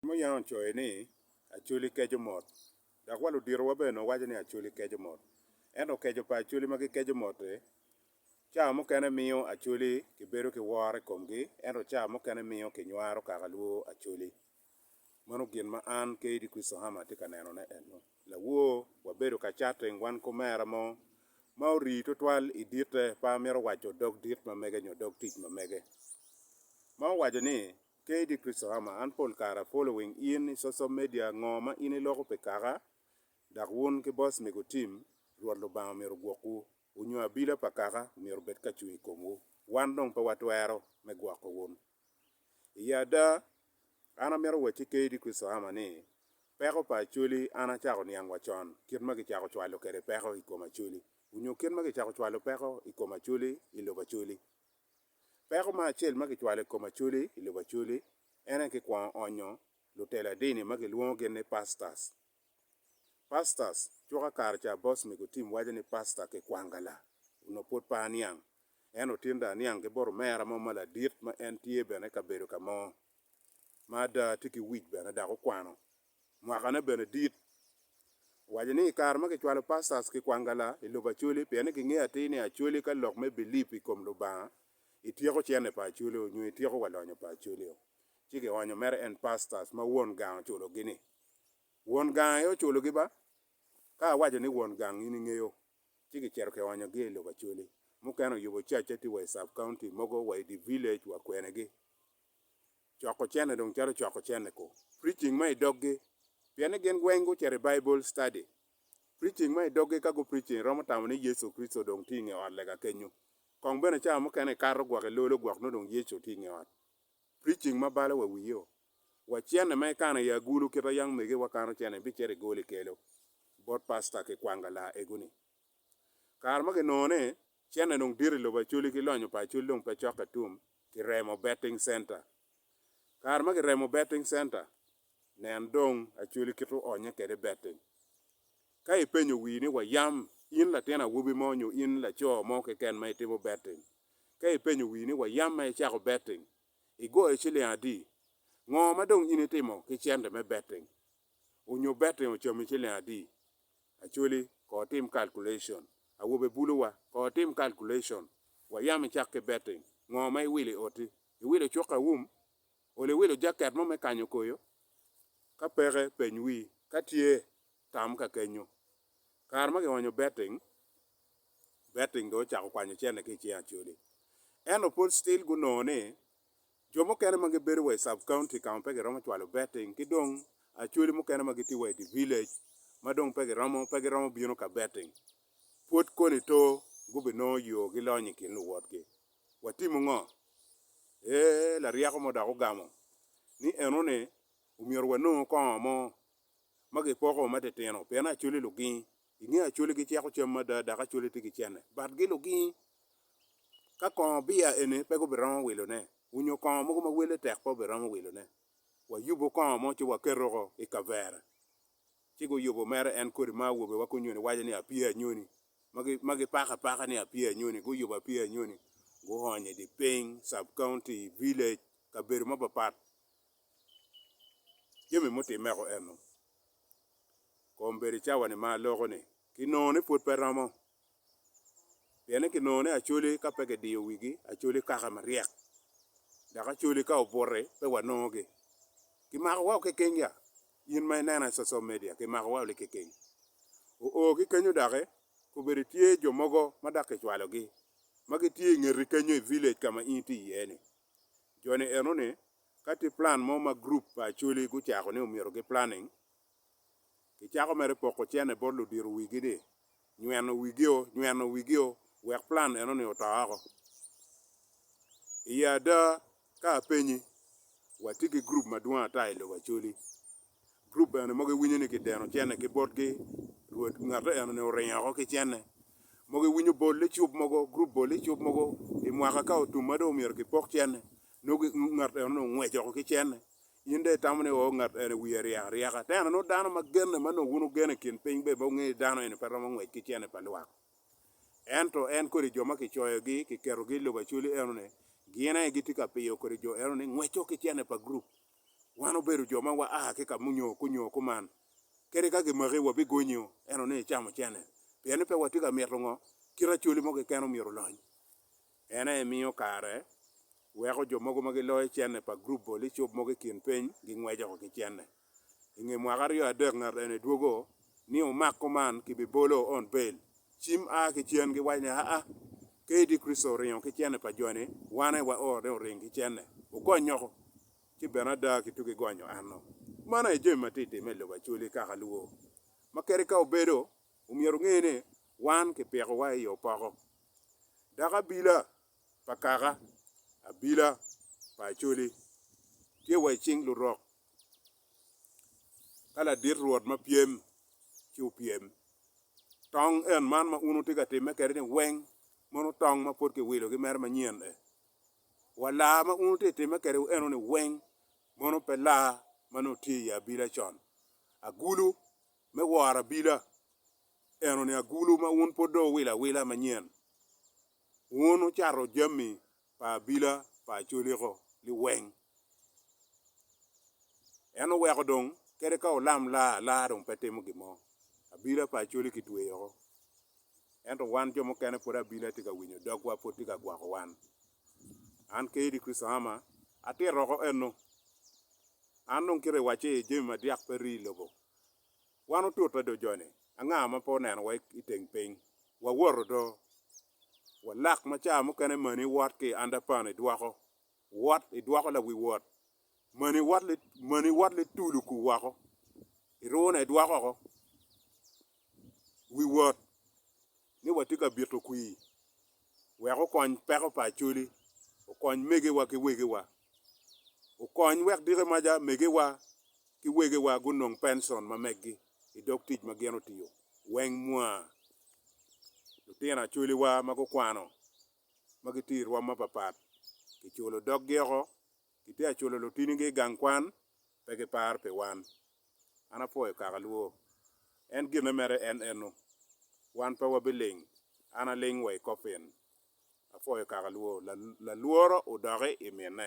Muyang ocoyo ni, Acholi keco mot. Dok wa luditowa bene nongo waco ni acholi keco mot. Ento keco pa acholi ma gikeco mot-ti, ca mukene miyo acholi kibedo ki woro i komgi, ento ca mukene miyo kinywaro kaka lwo acholi. Mano gin ma an ki Eddy Christoham atye ka nenone ennu. Lawor, wabedo ka chatting wan kumera mo ma orii twatwal i dite, pe amito waco dog dit ma mege nyo dog tic ma mege, ma owaco ni, Kayde Christhammer, An pol kare apolo wing in i social media ngo ma in iloko pi kaka dok wun ki boss mego team Rwot Lubanga omyero ogwokwu. Wu nyo abila pa kaka omyero obed ka cung i komwu. Wan dong pe watwero me gwoko wun. I ada, an amito wacci ki Kayde Christhammer ni peko pa Acholi an acako niang wa con kit ma kicako cwalo kwede peko i kom Acholi. Wu nyo kit ma kicako cwalo peko i kom Acholi i lobo Acholi. Peko ma acel ma kicwalo i kom Acholi i lobo Acholi en aye kikwongo onyo lutela dini ma kilwongo gin ni Pastors. Pastors cuka kare ca boss me gutim waco ni Pastor Kikwangala onongo pwod pe aniang, en otin dong aniang ki bot omera mo ma ladit ma en tye bene i kabedo ka mo. ma ada tye ki wic bene dok okwano mwakane bene dit. Owaco ni, I kare ma kicwalo pastors ki kwangala i lobo Acholi pien ni gingeyo atir ni Acholi ka lok me bilip i kom Lubanga ityeko cente pa Acholi-o nyo ityeko wa lonyo pa Acholi-o, ci kionyo mere en pastors ma won gang oculogi ni, Won gang aye oculogi ba? Ka awaco ni won gang in ingeyo, ci kicito kionyogi i lobo Acholi. Mukene oyubo cacce tye wa i sub-county mogo wa i dye village wa kwenegi. coko cene dong calo coko cene ko preaching ma i doggi pien ni gin weng gucito i Bible study. Preaching ma i doggi ka gu preaching romo tamo ni Yecu Kricito dong tye i nge ot lega kenyo. Kong bene cawa mukene i kato gwok i lolo gwok nongo dong Yecu tye i nge ot. Preaching ma balo wa wiyo wa cene ma ikano i agulu kit ma young mege wa kano cene bicito i goli kelo bot pastor ki kwang galar egu ni. Kare ma ginongo ni cene dong dit i lobo Acholi ki lonyo pa Acholi dong pe cokke tum Kiremo Betting Centre, Kare ma kiremo Betting Centre, nen dong Acholi kit oonye kwede Betting. Ka ipenyo wii ni wa yam in latin awobi mo nyo in laco mo keken ma itimo Betting, ka ipenyo wii ni wa yam ma icako Betting, igoyo ciling adi? Ngo ma dong in itimo ki cente me Betting? Onyo Betting ocami ciling adi? Acholi, Ko otim calculation. Awobe, Bulu wa, ko otim calculation. Wayam icak ki betting. Ngo ma iwilo i oti? Iwilo cuk aum? Oli iwilo jacket mo me kanyo koyo? Ka peke, peny wii. Ka tye, tam ka kenyo. Kare ma kionyo betting, betting dong ocako kwanyo cente ki i cing Acholi. Ento pud still gunongo ni Jo mukene ma gibedo wa i Sub County ka ma pe giromo cwalo betting ki dong Acholi mukene ma gitye wa i dye village ma dong pe giromo pe giromo bino ka betting, pwod koni to gubinongo yo gilony i kin luwotgi. Watimu ngo? Ee, laryeko mo dok ogamo ni, Eno ni, omyero wanongo kongo mo ma gipoko matitino pien Acholi lugingi I nge Acholi giceko cam mada dok Acholi tye ki cene, batgi lugingi. Ka kongo biya eni pe gubiromo wilone, onyo kongo mogo ma wele tek pe obiromo wilone. Wayubo kongo mo ci waketo oko i kavere, ci guyubo mere en kodi ma awobe wa kunyoni waco ni apye anyoni, ma gipako apaka ni apye anyoni, guyubo apye anyoni, guonyo i di piny, sub-county, village, kabedo mapapat jami mutimmeko eno kong bed i cawa-ni ma aloko-ni, kinongo ni pwod pe romo. Pien ni kinongo ni Acholi ka pe kidiyo wigi, Acholi kaka maryek, dok Acholi ka obuti, pe wanongogi. Kimako wau kekeny ya? In ma inena i social media, kimako wau likekeny? Oo, ki kenyo doki, kobedo tye jo mogo ma dok kicwalogi, ma gitye i ngeti kenyo i village ka ma in itye iye-ni? Jo-ni eno-ni Ka tye plan mo ma gurup pa Acholi gucako ni omyero giplanning, kicako mere poko cene bot ludito wigi ni, Nyweno wigio, nyweno wigio, wek plan eno-ni oto oko. I ada, ka apenyi, watye ki gurup madwong ata i lobo Acholi. Group bene mogo iwinyo ni kideno cene ki botgi, rwod ngatte enoni oringo woko ki cene. Mogo iwinyo bol licub mogo, group bol licub mogo i mwaka ka otum ma dong omyero kipok cene, nongo ngat enoni ongwec woko ki cene. In dong itamo ni oo ngat eni wiye ryek aryeka. Tena nongo dano ma genne ma nongo wun wugeno i kin piny bene wungeyo ni dano eni pe romo ngwec ki cene pa lwak. Ento en kodi jo ma kicoyogi, kiketogi i lobo Acholi enoni, gin aye gitye ka piyo kodi jo enoni ngwec woko ki cene pa group. Wan obedo jo ma waa ki ka munyo kunyo kuman, kadi ka gimaki wabigonyo eno ni icamo cene, pien ni pe watye ka mito ngo, kit acoli mo keken omyero olony. En aye miyo kare weko jo mogo ma giloyo cene pa gurup bol icub mogo i kin piny gingweco ki cene. I nge mwaka aryo adek ngat ene dwogo ni omak kuman ki bibolo on bel cim a ki cen gi wac ni aa kadi Kricito oringo ki cene pa jo ni wan aye wa oro ni oring ki cene okony nyoko ci bene ada ki tugi gonyo anno man aye jami ma ti time ilobo Acholi kaka luwo ma kadi ka obedo omyero onge ni wan ki piko wa iyo poko dok abila pa kaka abila pa Acholi tye wa icing lurok. ka ladit rwot ma pyem ci opyem. Tong en man ma un wutye ka timme kwede-ni weng mono tong ma pud kiwilo ki mere manyen-ni? Wa laa ma un wutye ka timme kwede eno-ni weng mono pe laa ma nongo tye i ye abila con? Agulu me woro abila eno-ni agulu ma un pud dong wuwilo awila manyen? Wun wucato jami pa abila pa acoliko liweng. En oweko dong kadi ka olam laa alaa dong pe timo gin mo. Abila pa acoli kitweyo oko. Ento wan jo mukene pud abila tye ka winyo dogwa, pud tye ka gwako wan. An Kaydi Christahama atito oko eno. An dong kite iwacce jami madyak pe rii i lobo. Wan otute do joni, anga ma pe onenowa i teng piny? Wawoto do. Walak ma ca mukene mani wot ki i underpan idwoko, wot, idwoko lawi wot. Mani wot li, mani wot li tulu ku woko, irune idwoko oko wi wot. ni watye ka bito kwir wek okony peko pa Acholi, okony megiwa ki wegiwa, okony wek dikemaca megiwa ki wegiwa gunong pencon ma meggi i dog tic ma gin otiyo weng mwa. Lutino Acholiwa ma gukwano ma gitye i rwom mapapat kiculo doggi oko. Gitye ka culo lutinigi i gang kwan, pe giparo pi wan. An apwoyo kaka lwo. En gin me mere en eno. Wan pe wabiling. An aling wa i kopin. Apwoyo kaka lwo. Lalworo odoki i mine.